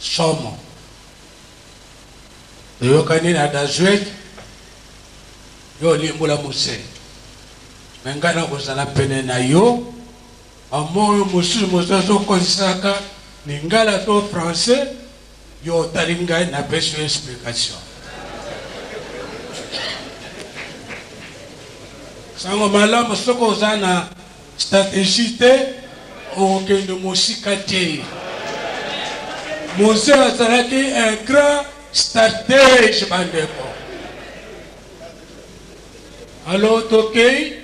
Somo. Toyokani na Dazuet yo olimbola muse mais ngai nakozala pene na yo ba mots oyo mosusu mozazi okozisaka lingala to français yo otali ngai napesi yo explication. Sango malamu soki oza na Strategie te, okokende mosika te. Mose azalaki un grand stratege bandeko. Alo tokei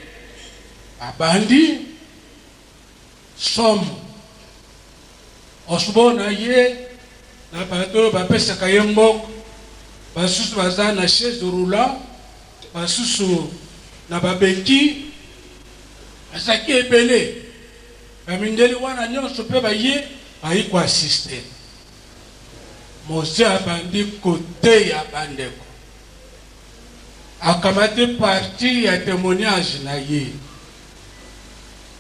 abandi somo osbo na ye na bato oyo bapesaka ye mbongo basusu baza na chaise roulant Basusu na babeti bazalaki ebele, ba mindele wana nionso pe baye, baye ko assister. Mose abandi koteya ba ndeko, akamati partie ya temoignage na ye.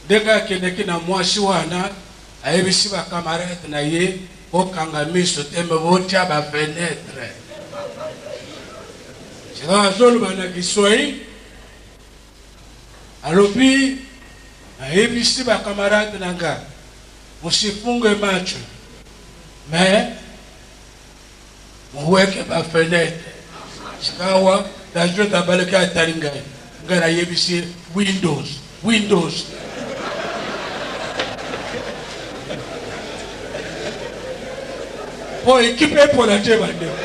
Ndenge akendeki na mwasi wana, ayebisi ba camarades na ye, Bokanga miso te, mais botia ba fenetres. Sikawa azoloba na Kiswahili, alobi, Nayebisi ba camarades na nga, musifunge macho, mais. Moweke ba fenetre sikawa na jeux na balaki atali ngai ngai na yebisi ye windows windows po ekipe epola te bandeko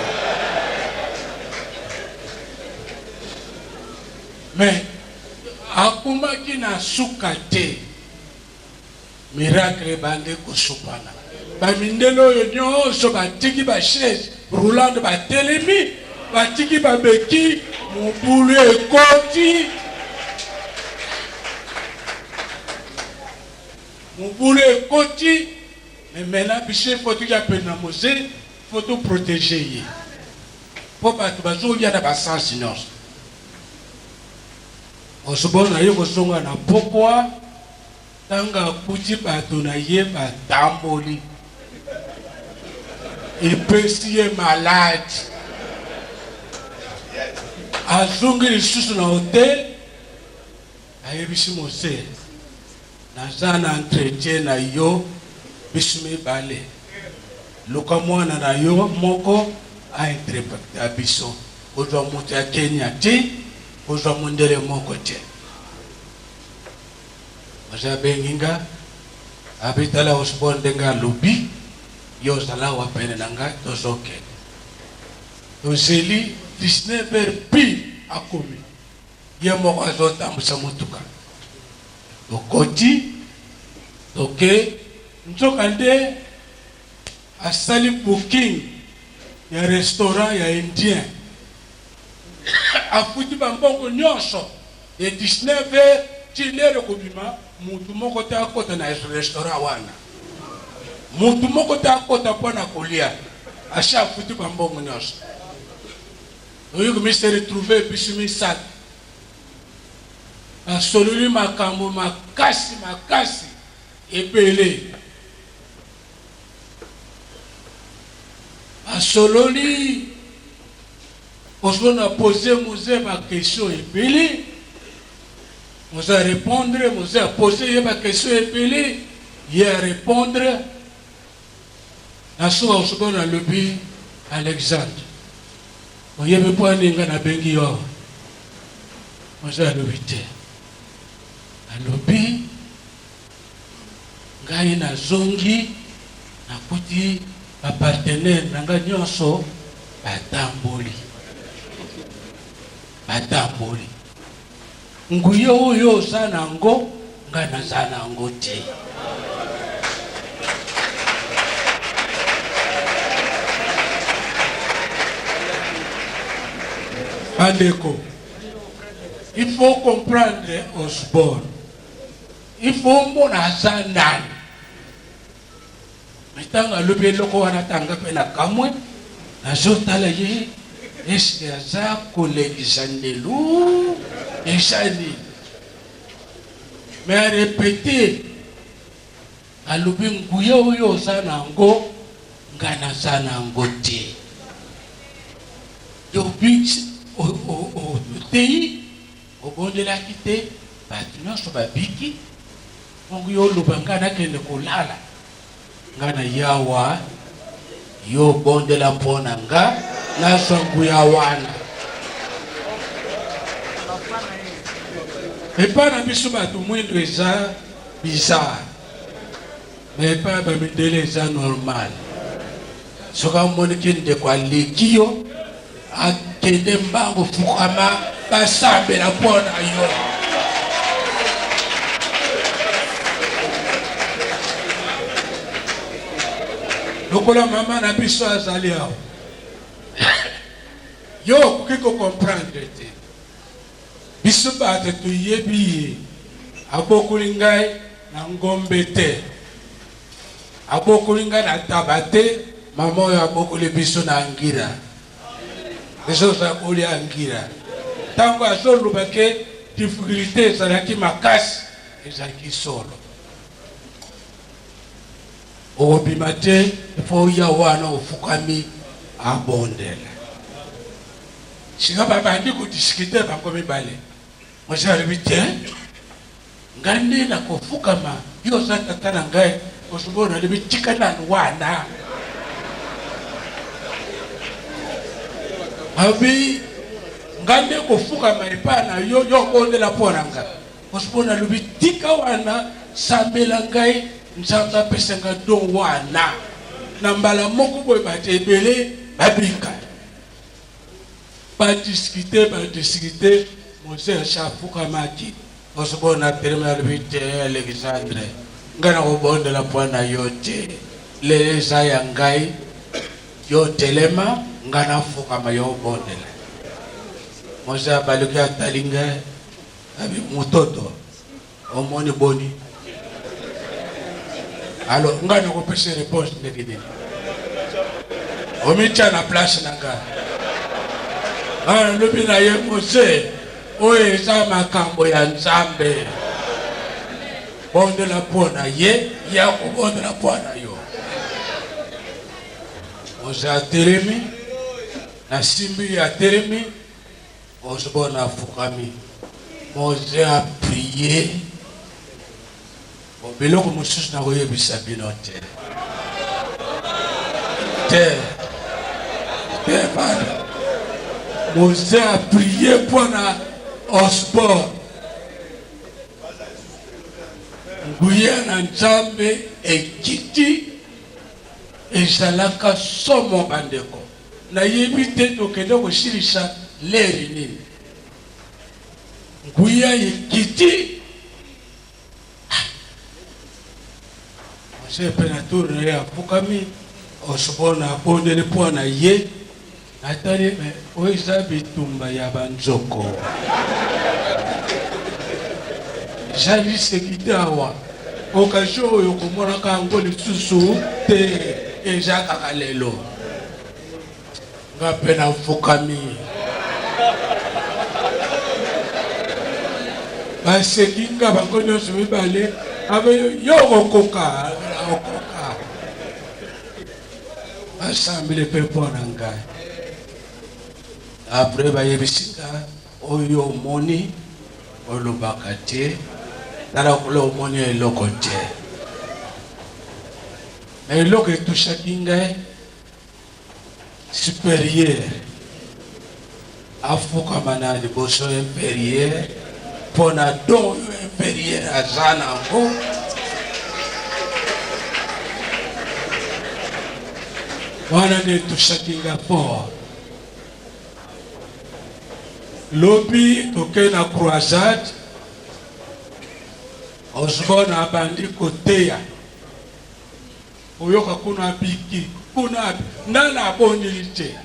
mais akumaki na suka te Miracle ebandi kosopana. Ba mindele oyo nionso batiki ba chaise roulante batelemi, batiki ba bequille, mobulu ekoti. Mobulu ekoti, mais maintenant biso il faut toya pene na Moze, il faut to proteger ye. Po batu bazolia na ba sens nionso. Osborn aye kozonga na pokwa ntango akuti bato na ye batamboli. Epesi ye maladi. Azongi lisusu na hotel, ayebisi Mosee, Naza na entretien na yo bisu mibale. Luka mwana na yo moko a interpreta biso. Kozwa moto ya Kenya te. Kozwa mundele moko te. Mwasi abengi nga, abi tala Osborn ndenge alobi, yo zala awa pene na nga tozo kende. Tozeli 19 heures pile akomi, ye moko azo tambusa motuka. Tokoti, toke, nzoka nde asali booking ya restaurant ya indien. Afuti ba mbongo nionso de 19 heures ti l'heure ekobima mutu moko te akota na restaurant wana mutu moko te akota pona kolia asi afuti ba mbongo nionso oyo komi se retrouver biso misatu basololi makambo makasi makasi ebele. Asololi osiko na pose muze ba question ebele muze a repondre muze a pose ye ba question ebele ye a repondre na suka osiko na lobi alexandre oyebi mpo ani nga nabengi yo awa muze alobi te alobi Ngai nazongi, nakuti ba partenaires na ngai nionso batamboli, batamboli. Nguya oyo yo oza na yango, ngai naza na yango te. Bandeko, il faut comprendre Osborne. il faut omona aza nani me ntango alobi eloko wana tanga mpe nakamwe nazotala ye eske aza kolekisa ndelu eza nini me arepete alobi nguya oyo oza na yango nga naza na yango te yobi oteyi Obondelaki te batu nionso babiki bongo yo oloba nga nakende kolala nga na yawa yo bondela pona nga nazwa nguya wana epa na biso batu mwindu eza bizarre Mais epai ya bamindele eza normal soki amoni ke ndeko aleki yo akende mbango fukama basambela mpo na yo lokola mama na biso azali awa yo okoki kokomprendre te biso bato toyebi ye abokoli ngai Na ngombe te abokoli nga na taba te maman oyo abokoli biso na angira biso za kolia angira ntango azoloba ke difficulté ezalaki makasi ezalaki solo okobima te ifo oya wana ofukami abondela sika babandi kodiskute bango mibale mosi alobi te Ngai nde nakofukama, yo oza tata na ngai, osikoyo nalobi tika nanu wana. Alobi ngai nde kofukama epai na yo, yo obondela mpo na ngai, osikoyo nalobi tika wana, sambela ngai Nzambe apesa ngai do wana. Na mbala moko boye bato ebele babika. Ba discuter, ba discuter, Moise asi afukamaki. Osborne atelemi alobi, Te, Alexandre, ngai nakobondela mpo na yo te. Lelo eza ya ngai, yo telema, ngai nafukama, yo obondela. Moise abaluki, atali ngai, abi, Mototo. Omoni boni? Alors ngai nakopesa reponse ndenge nini? Omitya na place na ngai. Nalobi na ye mose, oyo eza makambo ya Nzambe. Bondela mpo na ye, ye akobondela mpo na yo. Mose atelemi, nasimbi ye atelemi. Osborn afukami, Moze a prier, bon biloko mosusu nakoyebisa bino te te te bana Moze a prier mpo na Osborn nguya na Nzambe ekiti ezalaka somo bandeko Na yebi te tokende kosilisa ler nini nguya ekiti ah. Mose pe na tour na ye afukami osbon abondeli mpo na ye natali me oyo eza bitumba ya banzoko eza liseki te awa Occasion oyo okomonaka yango lisusu te, eza kaka lelo. Nga mpe nafukami. Baseki nga bango nyonso mibale, abe yo okokoka, okoka. Basambeli mpe mpo na ngai. Après bayebisi nga Oyo omoni olobaka te tala kuna omoni eloko te na eloko etushaki ngai superieur afukama na liboso inferieur mpo na don oyo inferieur aza na yango wana nde etushaki ngai fort Lobi tokei na croisade, Osborne abandi koteya oyoka kuna abiki kuna nana aboneli te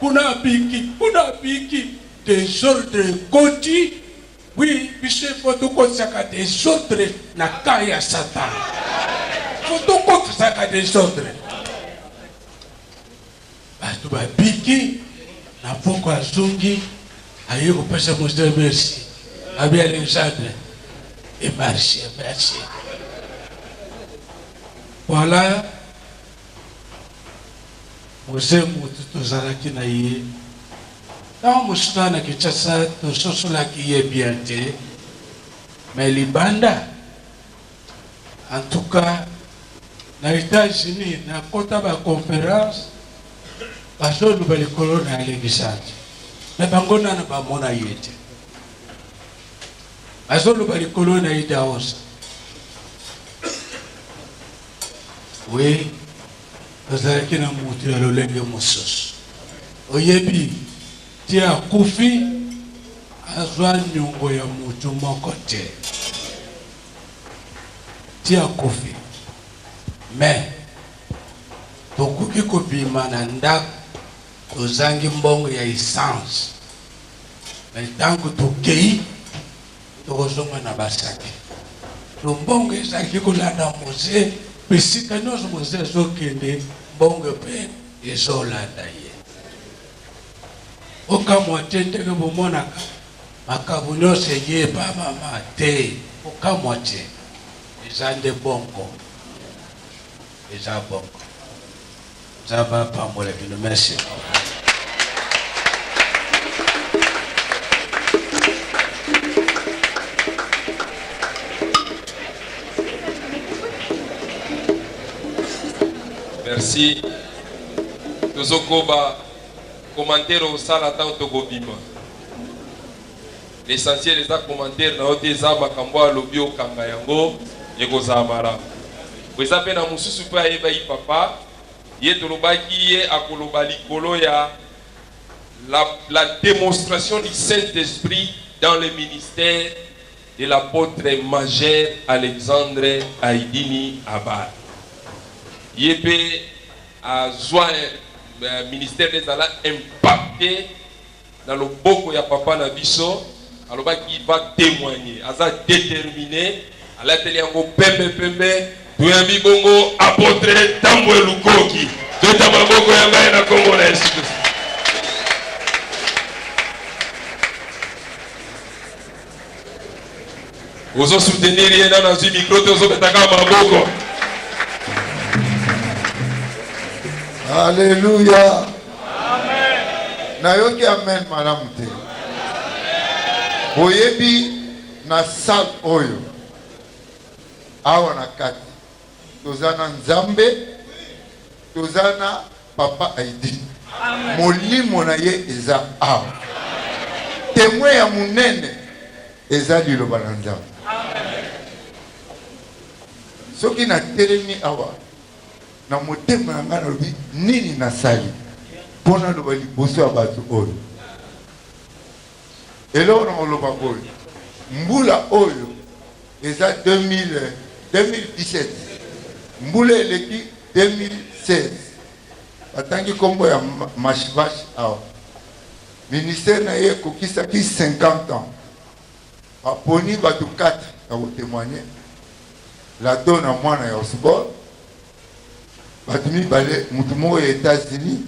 kuna abiki kuna abiki desordre ekoti wi biso efo tokotisaka desordre na ka ya satana fo tokotisaka desordre Batu babiki na pokua azongi aye kopesa mostre merci abi Alexandre et marche merci voilà mose mutu tozalaki na ye ntango mosusu na Kinshasa tososolaki ye bien te mais libanda En tout cas na etats unis na kota ba conference bazo loba likolo na alexandre mais bango nana ba mona ye te bazo loba likolo na idaosa oui tozalaki na mutu ya lolenge mosusu oyebi Ti akufi azwa niongo ya mutu moko te ti akufi mais bokoki kobima na ndako tozangi mbongo ya essence me ntango tokei tokozonga na basaki to mbongo ezalaki kolanda moze mpe sika nyonso moze ezokende mbongo mpe ezolanda ye Kokamwa te ndenge bomonaka makambo nyonso eyebamama te. Kokamwa te. Eza nde bongo. Eza bongo. Nzambe apambola bino. Merci beaucoup. Merci. tozokoba commentaire osala ntango tokobima l'essentiel eza commentaire na yo te eza makambo alobi okanga yango ekozala malamu eza mpe na mosusu mpe ayebaki papa ye tolobaki ye akoloba likolo ya la, la démonstration du saint esprit dans le ministère de l'apotre majeur Alexandre Aidini Abad. Ye pe azua ministère des ala impacte na loboko ya papa na biso alobaki va temoigner aza determine alateli yango pembe pembe toyambi bongo apotre tambwe lukoki tota maboko ya ngai na kongo na yesu kristo ozo soutenir ye nano azwi micro te ozobetaka maboko aleluya nayoki amen malamu te boyebi na sale oyo awa na kati toza na nzambe toza na Papa Heidi, molimo na ye eza awa. Temoin ya monene eza liloba na Nzambe. Soki natelemi awa na motema na ngai nalobi nini nasali mpo naloba liboso ya bato oyo Eloko na koloba boye mbula oyo eza 2017 mbula eleki 2016 batangi kombo ya mashvash awa ministère na ye ekokisaki 50 ans baponi batu 4 ya kotemoigne lado na mwana ya osborne Bato mibale, moto moko ya Etats-Unis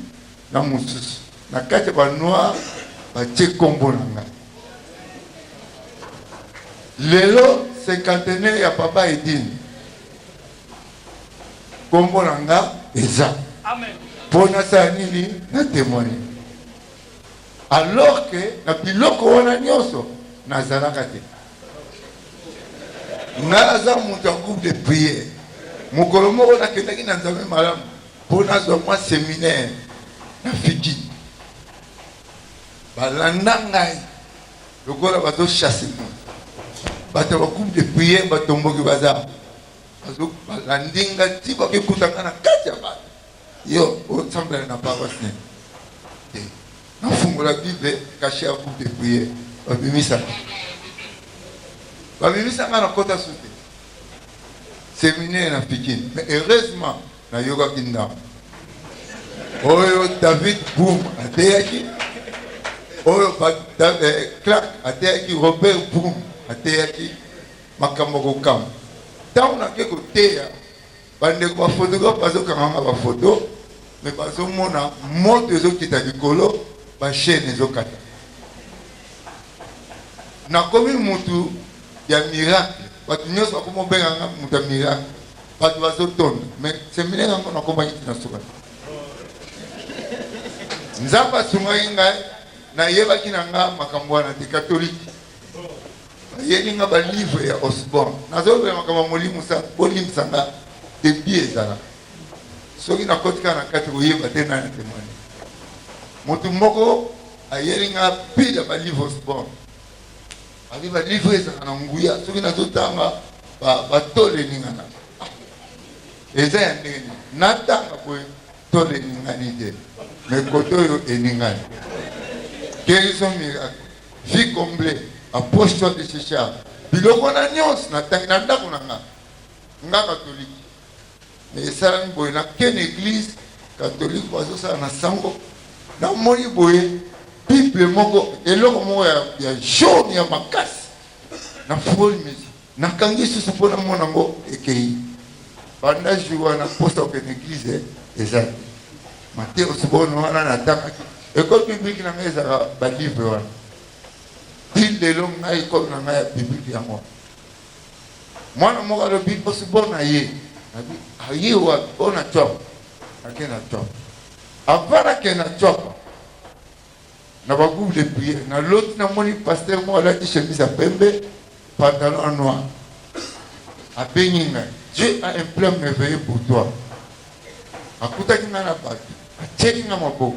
na mosusu na kati ya ba noir, batie nkombo na ngai. Lelo cinquantenaire ya Papa Edine, nkombo na nga eza mpo nasala nini? Na temoigne. Alors que na biloko wana nionso nazalaka te. Nga naza mutu ya groupe de prière. Mokolo moko nakendaki na Nzambe malamu mpo nazwa mwa seminaire na Fidji. Balanda ngai lokola bazo chasse moi. Bato ya groupe de prière batomboki baza balandi nga ti bakekuta nga na kati ya bato. Yo osambela na paroisse nini? Te. Nafungola Bible, cache à vous de prière. Babimisa. Babimisa nga na kota su te. Seminaire na Pikine. Mais heureusement, nayokaki ndambo. Oyo David Boom ateyaki. Oyo eh, Clark ateyaki, Robert Boom ateyaki makambo kokamba. Ntango nake koteya Bandeko ba photographe bazokanga nga ba photo me bazomona moto ezokita likolo bachaine ezokata nakomi mutu ya miracle bato nyonso bakomi obenga nga moto ya miracle bato bazotonda me seminaire yango nakomaki tina suka nzambe asungaki ngai nayebaki na nga makambo wana te katolike bayeli nga ba livre ya Osborne nazolobela makambo ya molimo sa bolimbisa nga debi ezala soki nakoti kaka na kati koyeba te nani atemwani motu moko ayeli nga pile ya ba livre Osborne abi ba livre ezalaka na nguya soki nazotanga batole eningana ah, eza ya ndenge nini natanga boye tole eningani te me kote oyo eningani guérison miracle Vie comble a poche toi de checha biloko wana nyonso na tangi na ndako na nga nga katoliki me esalami boye na ken eglise katolike bazosala na sango namoni boye bible moko eloko moko ya, ya jaune ya makasi na foli mesa Nakangi susu mpo na mona ngo ekeyi banda jour wana mposa okende eglise eza te mateus bono wana natangaki ekole biblike na ngai ezalaka balivre wana ti lelo ngai ekole na ngai ya biblike yango mwana moko alobi mposi bona ye nabi aye wapi ona cop ake na cop avant nake na cop na ba groupe de prière na loti na moni pasteur moko alati chemise ya pembe pantalon ya noir abengi ngai dieu a un plan merveilleux pour toi akutaki ngai na bato atieli ngai maboko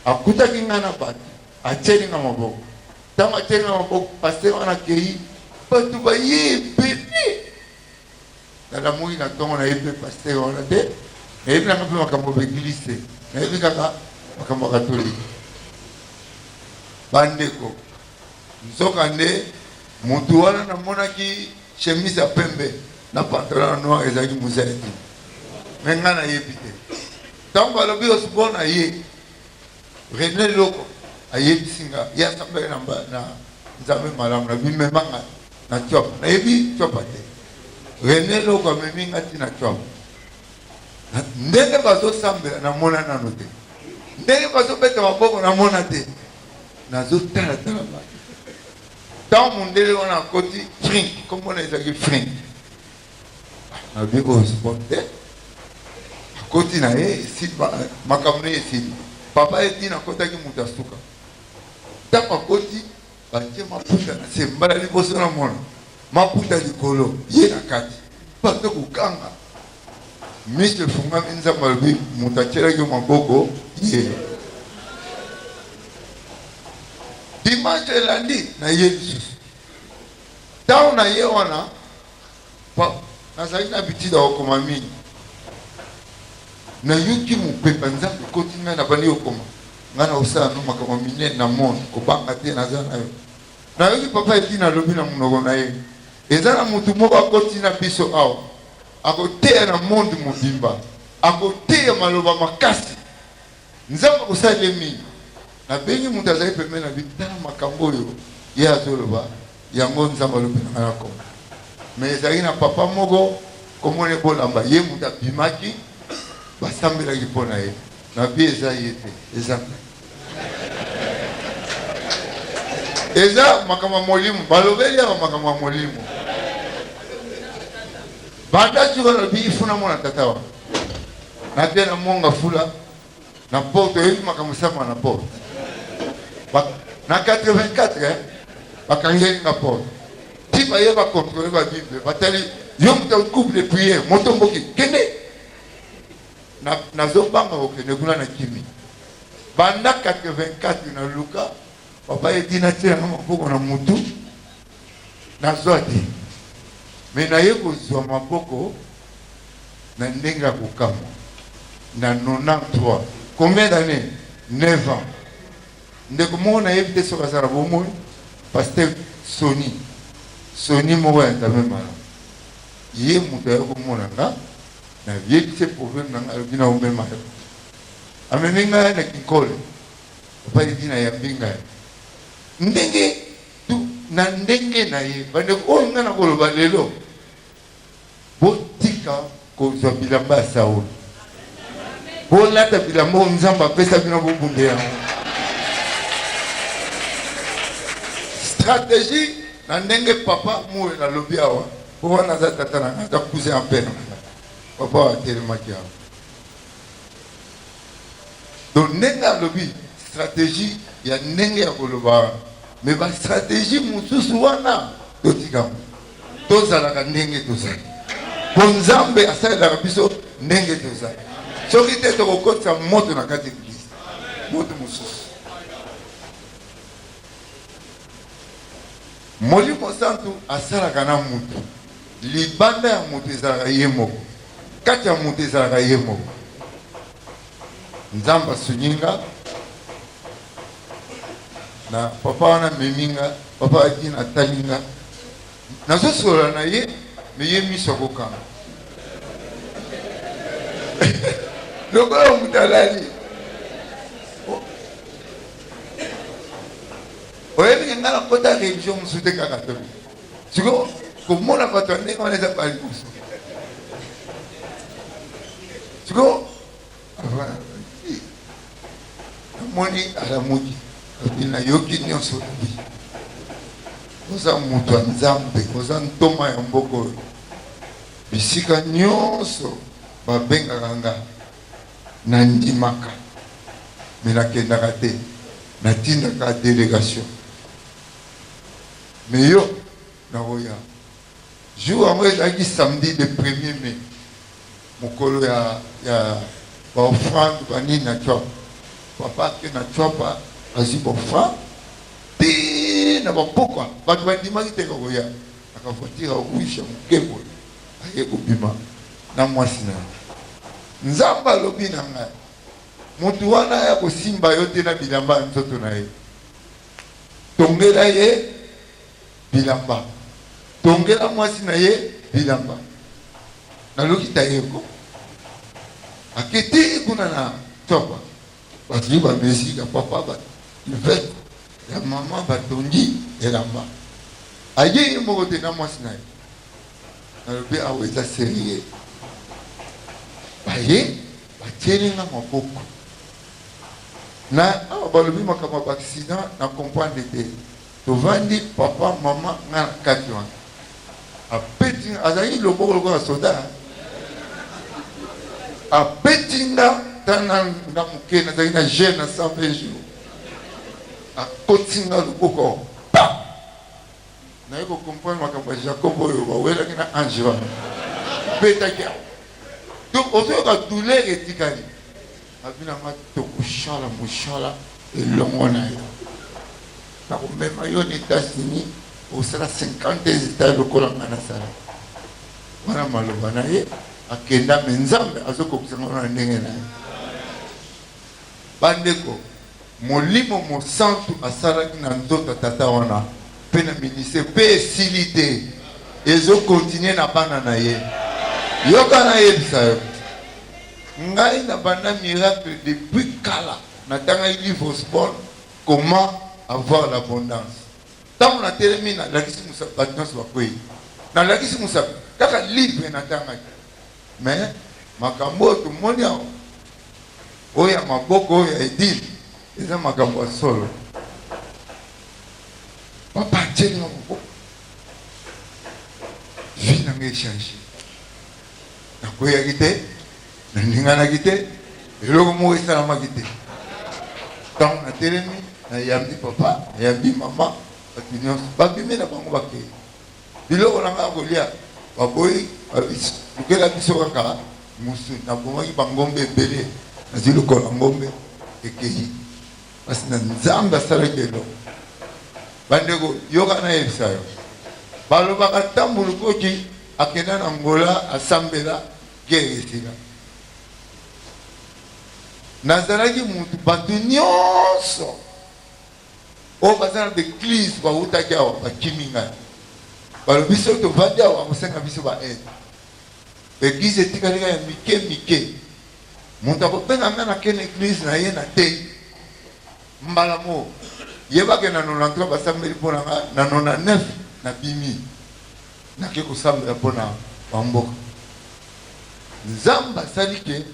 akutaki ngai na bato atieli ngai maboko ntango atieli ngai maboko pasteur wana akei bato baye ebele Tala moyi na tongo na yebi pe pasteur wana te na yebi nanga pe makambo ba eglise te na yebi kaka makambo ya katolike bandeko nzoka nde mutu wana na monaki chemise ya pembe na pantalon ya noir ezalaki mozali te me ngai nayebi te ntango alobi osbona ye Rene Loko ayebisi nga ye asambela na mba- na Nzambe malamu na bimema nga na Tshuapa. Nayebi Tshuapa te. Rene Loko amemi nga ti na Tshuapa. Na- Ndenge bazosambela namona nano te. Ndenge bazobeta maboko namona te. Nazotala tala bato. Ntango mondele wana akoti Frink, kombo na ye ezalaki Frink. na vie oyo sport te akoti na ye makambo na ye esili papa ye ntina akotaki moto ya suka ntango akoti batie maputa na se mbala liboso na mona maputa likolo ye na kati bato kokanga miso efungami nzambe alobi moto atyelaki maboko ye dimanche elandi na ye lisusu ntango na ye wana Papa, nazali na habitude ya kokoma mingi. Nayoki mopepe ya Nzambe ekoti ngai, nabandi kokoma. Ngai nakosala no makambo minene na monde, kobanga te, naza na yo. Nayoki papa Edina alobi na monoko na ye, eza na motu moko akoti na biso awa, akoteya na monde mobimba, akoteya maloba makasi Nzambe akosala ye mingi. Nabengi moto azali pembeni na bino, tala makambo oyo ye azoloba, yango Nzambe alobi na ngai na kombo. Mais ezalaki na papa moko kombo na ye Bolamba, ye moto abimaki, basambelaki mpo na ye. Na vie eza ye te, eza ngai. Eza makambo ya molimo, balobeli awa makambo ya molimo. Banda sikoyo nalobi il faut namona tata wana. Na bia na mwanga fula na porte oyebi makambo sama na porte na 84 eh, bakangeli nga porte ti baye bakontrole babible batali yo moto couple de prière moto mboki kende nazobanga kokende kuna na kimi banda 84 na luka papa etina tielanga maboko na motu Nazwa te, mais naye kozwa maboko na ndenge ya kokamwa na 93 combien d'annees? 9 ans ndeko moko nayebi te soki aza na bomoi pasteur soni soni moko ya nzambe malamu ye moto aye komona nga na yebisi ye problème na nga alobi na omema yo amemi ngai na kinkole epai dina yambi ngai ndenge Tu, na ndenge na ye. Bandeko oyo ngai nakoloba lelo, botika kozwa bilamba ya Saul. Bolata bilamba oyo Nzambe apesa bino, bobunda yango. Strategie na ndenge papa moyo nalobi awa, po wana aza tata na ngai, aza cousin ya père na ngai, papa oyo atelemaki awa donc ndenge alobi strategie ya ndenge ya koloba wana me bastrategie mosusu wana totikango tozalaka ndenge tozali mpo nzambe asalelaka biso ndenge tozali soki te tokokotisa moto na kati eglise moto mosusu Molimo Santu asalaka na mutu. Libanda ya mutu ezalaka ye moko. Kati ya mutu ezalaka ye moko. Nzambe asungi nga na papa wana amemi nga. Papa Adin atali nga. Nazo solola na ye mais ye miso akokanga. Lokola mutu alali. Oyebi ke nga nakota religion mosusu te kaka toli. Sikoyo komona bato ya ndenge wana eza bali mosusu. Sikoyo namoni alamuki lobi nayoki nyonso lobi oza moto ya nzambe oza ntoma ya mboka oyo bisika nyonso babengaka nga Na ndimaka mais na kendaka te na tindaka delegation mais yo nako ya jour yango ezalaki samedi le premier mai mokolo ya ya ba offrande ba nini na tshuapa papa ke na tshuapa azui ba offrande ti na ba pokwa batu ba ndimaki te koko ya Kaka voiture ya rouge ya muke boye aye kobima na mwasi na ye. Nzambe alobi na ngai mutu wana aya kosimba yo te na bilamba ya nzoto na ye. Tongela ye bilamba, tongela mwasi na ye bilamba. Nalokita ye ko akiti kuna na tsopa. Bazwi ba mesure ya papa ba ivette ya maman batongi elamba aye ye moko te na mwasi na ye nalobi awa eza serieux baye batieli nga maboko na awa balobi makambo ya ba accident na comprendre te Tovandi papa maman nga na kati wana abeti nga azalaki loboko lokola soda abeti nga tana nga moke nazalaki na jeune na 120 jours akoti nga loboko pa naye kocomprendre makambo ya jacob oyo bawelaki na ange wana betaki yango donc ozoyoka douleur etikali Na vie na nga toko sala musala elongo na yo. Nako mema yo na Etats Unis osala 52 etats lokola nga na sala. Wana maloba na ye akenda mais Nzambe azo kokisa ngo na ndenge na ye. Ba ndeko Molimo Mosantu asalaki na nzoto ya tata wana pe na ministere, pe esili te, ezo continuer na bana na ye. Yoka nayebisa yo, ngai na banda miracle depuis kala, natangaki livre Osborne, Comment avoir l'abondance. Tango natelemi nalakisi mosapi, batu nionso bakweyi, nalakisi mosapi, kaka livre natangaki. Mais makambo oyo tomoni awa. Oyo ya maboko oyo ya edil eza makambo ya solo papa atieli nga maboko vie na nga echange nakweyaki te naninganaki te eloko moko esalamaki te ntango natelemi nayambi papa nayambi mama bato nyonso babimi na bango bakei Biloko na ngai ya kolia baboyi babisi lukela biso kaka musuni na bomaki ba ngombe ebele na zui lokolo ya ngombe ekeyi pasi na nzambe asalaki eloko bandeko yoka na yebisa yo balobaka tambu lukoki akenda na ngola asambela guerre esila nazalaki mutu bato nyonso oyo baza na ba eglise bawutaki awa bakimi ngai balobi soki tovandi awa bakosenga biso ba aide ba eglise etikali kaka ya mike mike moto akobenga ngai na kene eglise na ye na tei mbala moo yebake na 93 basambeli mpo na ngai na 99 na bimi nake kosambela mpo na bamboka nzambe asali ke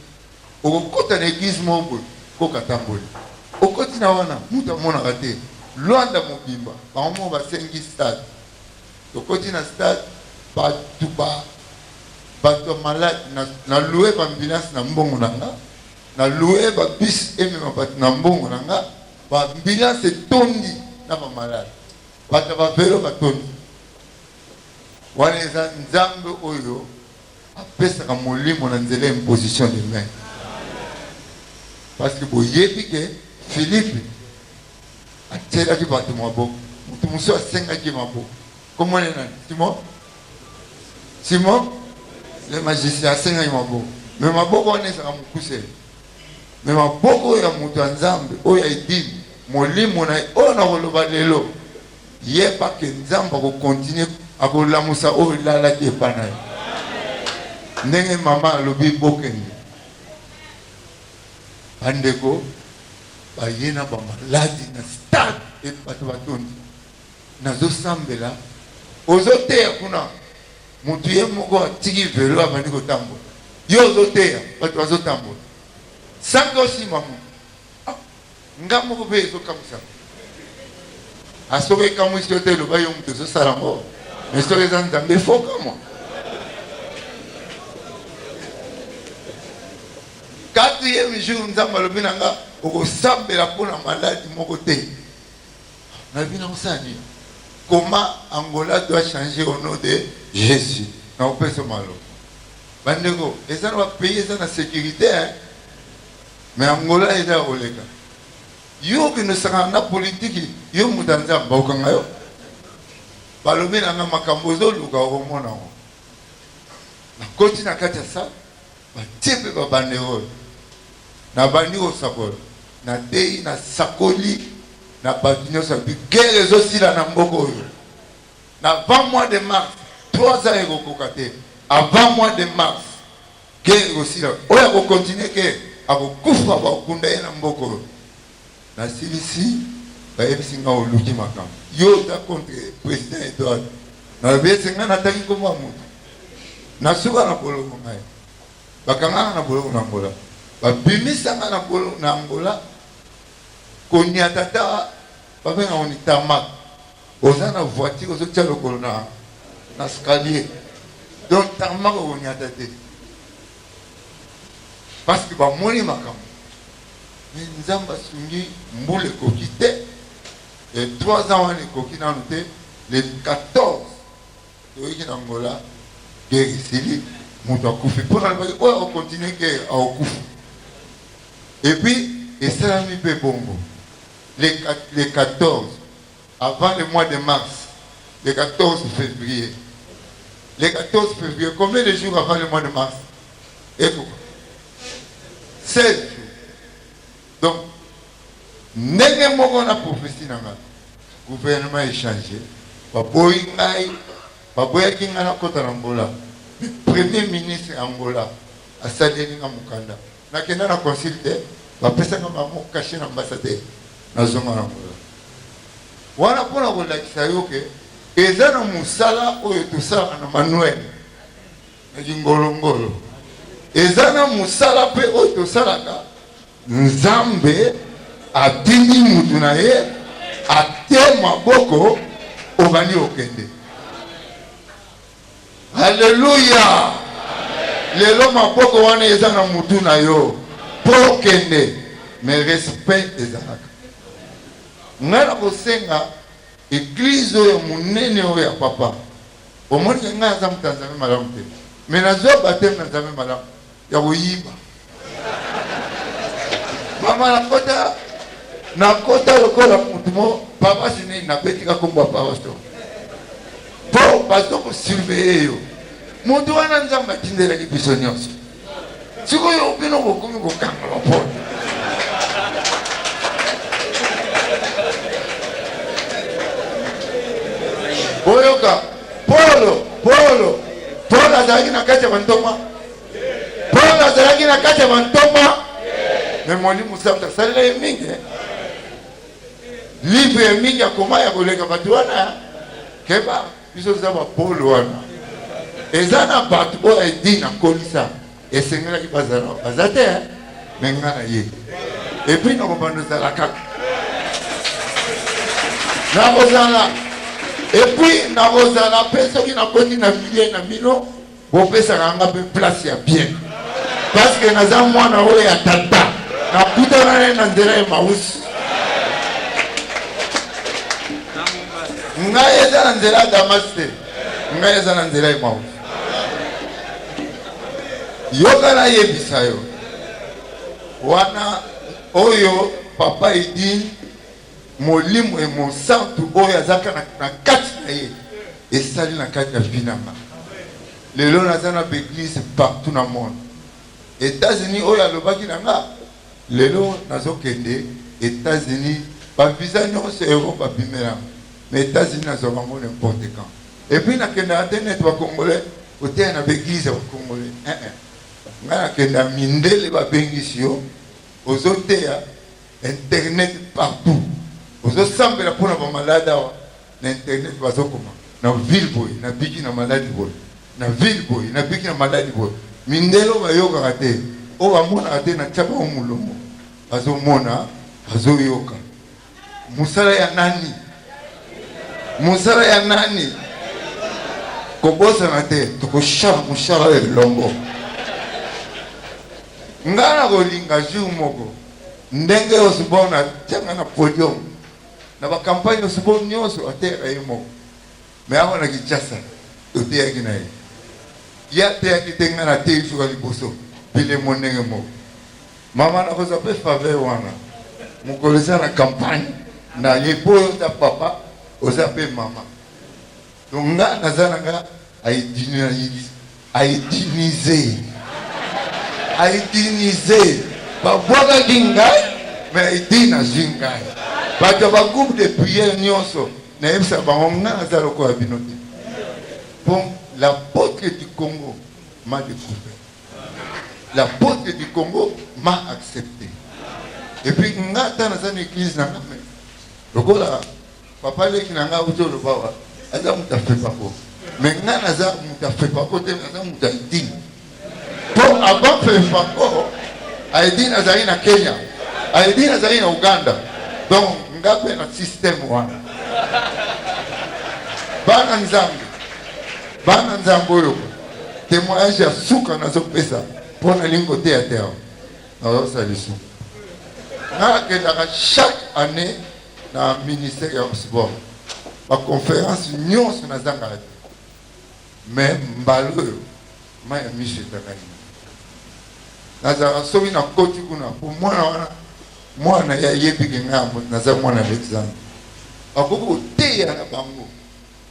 Okokota na eglise moko boye coq atamboli okoti na wana mutu amonaka te luanda mobimba bango moko basengi stade tokoti na stade batu ba batu ya malade na na loue ba ambulance na mbongo na nga na loue ba bus emema batu na mbongo na nga ba ambulance etondi na ba malade batu ya ba velo batondi wana eza nzambe oyo apesaka molimo na nzela ya imposition de main parce que boyebi ke Philippe atielaki bato maboko moto mosusu asengaki maboko kombo ne nani simon simon le magicien asengaki maboko me maboko wana ezalaka mokuse me maboko oyo ya moto ya nzambe oyo ya edini molimo na ye oyo nakoloba lelo Yeba que Nzambe ako continuer ako lamusa oyo elalaki epa na yo. Ndenge mama alobi bokende. Ba ndeko baye na ba maladi na stade et bato batondi. Nazo sambela ozo teya kuna mutu ye moko atiki velo abandi kotambola. Yo ozo teya bato bazo tambola. Sango sima mutu. Nga moko pe ezo kamuisa nga. Ah soki ekamuisi yo te loba yo mutu ozo sala ngo mais soki eza nzambe fo okamua. Quatrième jour nzambe alobi na nga okosambela po na maladi moko te. Nalobi na kosala nini? Koma Angola doit changer au nom de Jesus. Na kopesa maloba. Bandeko eza na ba pays eza na securite hein. Mais Angola eza ya koleka. Yo okende osakana na politiki yo moto ya Nzambe bakokanga yo? Balobi na nga makambo ozoluka okomona yango. Nakoti na kati ya sala batie mpe babanderole, nabandi kosakola, nateyi, nasakoli na bato nyonso ya bi guerre ezosila na mboka oyo na 20 mois de mars 3 ans ekokoka te avant mois de mars Ken bosila oyo ako continue ke ako kufa ba kunda ye na mboka oyo na silisi ba yebisi nga oluki makambo yo oza contre president Edouard na lobi ese nga na tangi kombo ya mutu na suka na boloko ngai ba kanga nga na boloko na Angola ba bimisa nga na boloko na Angola koniata ta ba benga ngo ni tarmac Oza na voiture ozo tia lokolo na na scalier donc tarmac okonyata te parce que bamoni makambo mais nzambe asungi mbula ekoki te e 3 ans wana ekoki nanu te le 14 toyeki na ngola gere esili moto akufi mpo nalobaki oyo akokontinue gere akokufa epuis esalami mpe bongo le 14 avant le mois de mars le 14 fevrier le 14 fevrier combien de jours avant le mois de mars ekuba 16 jours donc ndenge moko na prophetie na ngai gouvernement echange baboyi ngai baboyaki ngai nakota na angola le premier ministre ya angola asaleli nga mokanda Na kenda na consul te ba pesa nga ba mot cache na ambassadeur na zonga na angola wana pona ko lakisa yo ke eza na musala oyo tosalaka na manuel na kingolo ngolo eza na musala pe oyo tosalaka nzambe atindi mutu na ye ate maboko obandi okende Alleluia lelo maboko wana eza na mutu na yo po okende mais respect ezalaka nga na kosenga eglise oyo munene oyo ya papa omoni nga aza mutu ya nzambe malamu te mais nazua bateme na nzambe malamu ya koyiba mama nakota nakota lokola motu mo paroisse nini nabetika kombo ya paroisse to mpo bazo kosurveye yo motu wana nzambe atindelaki biso nyonso sikoyo bino bokomi kokanga bapona boyoka polo polo polo azalaki na kati ya bantoma Paulo azalaki na kati ya bantoma me molimo santu asalela ye mingi eh. livre ya mingi akoma ya koleka bato wana keba biso toza bapolo wana eza na bato oyo edini akolisa esengelaki bazala baza te eh. me nga na ye epui nakobanda ozala kaka nakozala epui nakozala mpe soki nakoti na milie na bino Bopesaka nga pe place ya bien parce que naza mwana oyo ya tata nakutana naye na nzela ya mausi ngai eza na nzela ya damas te ngai eza na nzela ya mausi yoka nayebisa yo wana oyo papa edi Molimo e mosantu oyo aza kaka na kati na ye esali na kati ya vie na nga lelo naza na b'eglise partout na monde Etats-Unis oyo alobaki na nga lelo nazokende Etats-Unis ba visa nyonso ya Europe babimela mais Etats-Unis nazwa bango n'importe quand et puis nakendaka te neti ba congolais koteya na b'eglise ya ba congolais eh eh nga nakenda mindele babengisi yo ozoteya Internet partout ozo sambela pona ba malade awa na internet bazo koma na ville boye na biki na maladi boye na ville boye na biki na maladi boye mindele oyo bayokaka te oyo bamonaka te na tia bango molongo bazomona bazoyoka mosala ya nani mosala ya nani kobosana te tokoshala mosala elongo ngai nakolinga jour moko Ndenge Osborne atianga na podium na ba campagne Osborne nionso ateyaka ye moko mais awa na Kinshasa toteyaki na ye ye ateyaki te ngai nateyi suka liboso bilemo ndenge moko mama nakozwa mpe faveur wana mokolo eza na campagne na ye mpo oza papa oza mpe mama Donc nga naza na nga aidinize aidinize babwakaki ngai mais aidine azwi ngai bato ya bagroupe de prière nyonso nayebisa bango nga naza lokola bino te mpo la potre du congo m'a découvert la potre du congo m'a accepté epuis nga ata naza na église na nga lokola Papa leki na nga uzo loba wa aza mutu afepa ko me nga naza mutu afepa ko te naza mutu ya idini po avant fepa ko ayebi nazali na kenya ayebi nazali na uganda donc nga mpe na systeme wana bana nzambe bana nzambe oyo témoignage ya suka nazopesa mpo nalingi koteya te awa nazosala lisuku nakendaka chaque année na ministère ya sport baconférence nyonso nazangaka te mais mbala oyo mai ya miso ezangani nazalaka soki na koti kuna po mwana wana mwana ye ayebike ngai yango naza mwana alexandre bakoki koteya na bango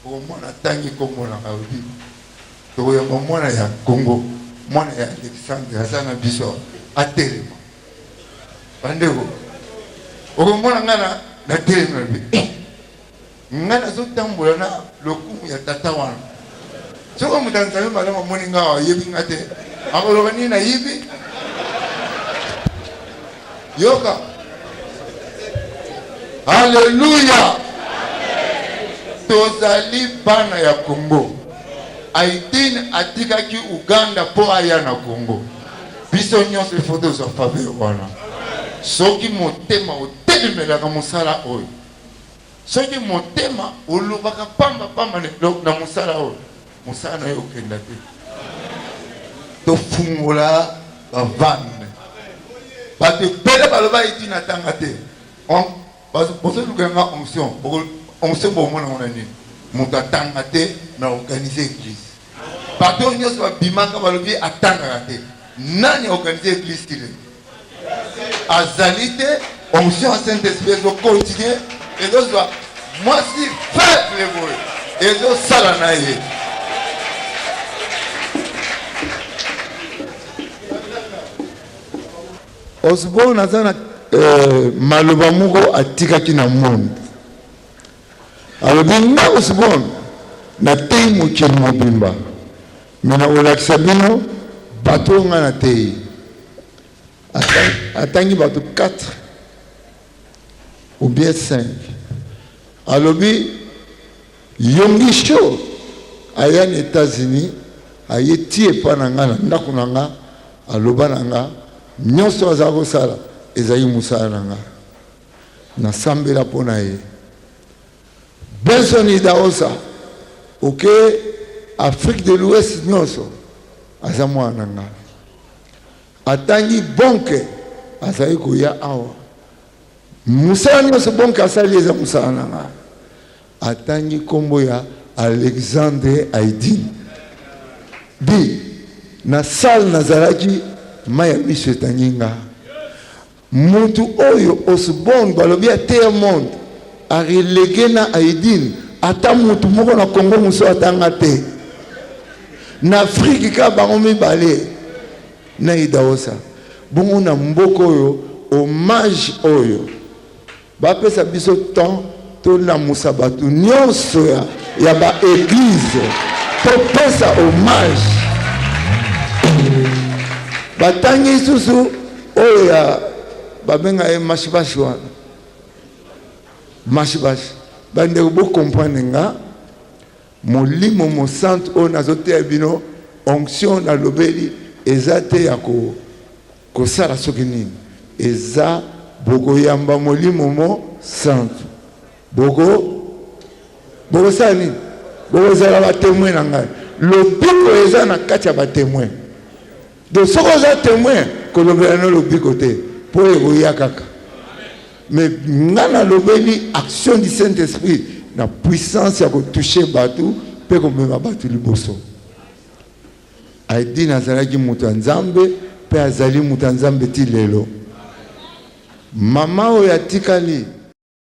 okomona atangi nkombo na ngai obi tokoyamba mwana ya kongo mwana ya alexandre aza na biso atelema bandeko okomona ngai na natelemela mpe eh, ngai nazotambola na lokumu ya tata wana soki moto ya nzambe malamu amoni ngai awa ayebi ngai te akoloba nini nayibi yoka aleluya tozali bana ya kongo aitine atikaki uganda mpo aya na kongo Biso nyonso ifo tozwa faveur wana. Soki motema otelemelaka mosala oyo, soki motema olobaka pamba pamba na mosala oyo, mosala na yo okenda te. Tofungola bavane bato ebele balobaki ntina tanga te Bazo bozo luka nga onction boko onction bo mona mona nini mutu atanga te mais organiser eglise bato nyoso ba bimaka balobi atangaka te nani a organiser eglise kile azali te onction ya saint esprit ezo continuer ezo zwa mwasi faible boye ezo sala na ye Osborne aza na euh, maloba moko atikaki na monde alobi nga Osborne nateyi mokili mobimba me nakolakisa bino bato oyo ngai nateyi atangi bato 4 ou bien 5 alobi Yonggi show aya na etats unis aye ti epa na nga na ndaku na nga aloba na nga nionso aza ko sala ezali musala na nga na sambela po na ye Benson Idaosa oke Afrique de l'ouest nionso aza mwana na nga atangi bonke azali koya awa musala nionso bonke asali eza musala na nga Atangi kombo ya Alexandre Aydin. Dit na salle nazalaki mayi ya miso etangi nga. Mutu oyo Osborne balobi ateya monde a releguer na Aydin ata mutu moko na Congo mususu ata nga te. Na Afrique kaka bango mibale na Idahosa. Bongo na mboka oyo hommage oyo. Ba pesa biso temps to lamusa batu nionso ya, ya ba eglise to pesa hommage. Batangi susu oyo ya babenga ye mashibashi wana mashibashi bandeko bokomprane nga molimo mosantu oyo nazoteya bino onction nalobeli eza te ya ko Kosala soki nini eza bokoyamba molimo mo santu boko bokosala nini bokozala batemoin na ngai lobiko eza na kati ya batemoin donc soki oza temoin kolobela no lobiko te mpo ekoya kaka mais ngai nalobeli action du saint esprit na puissance ya kotouche bato mpe komema bato liboso Aydin azalaki moto ya Nzambe mpe azali moto ya Nzambe ti lelo. Mama oyo atikali.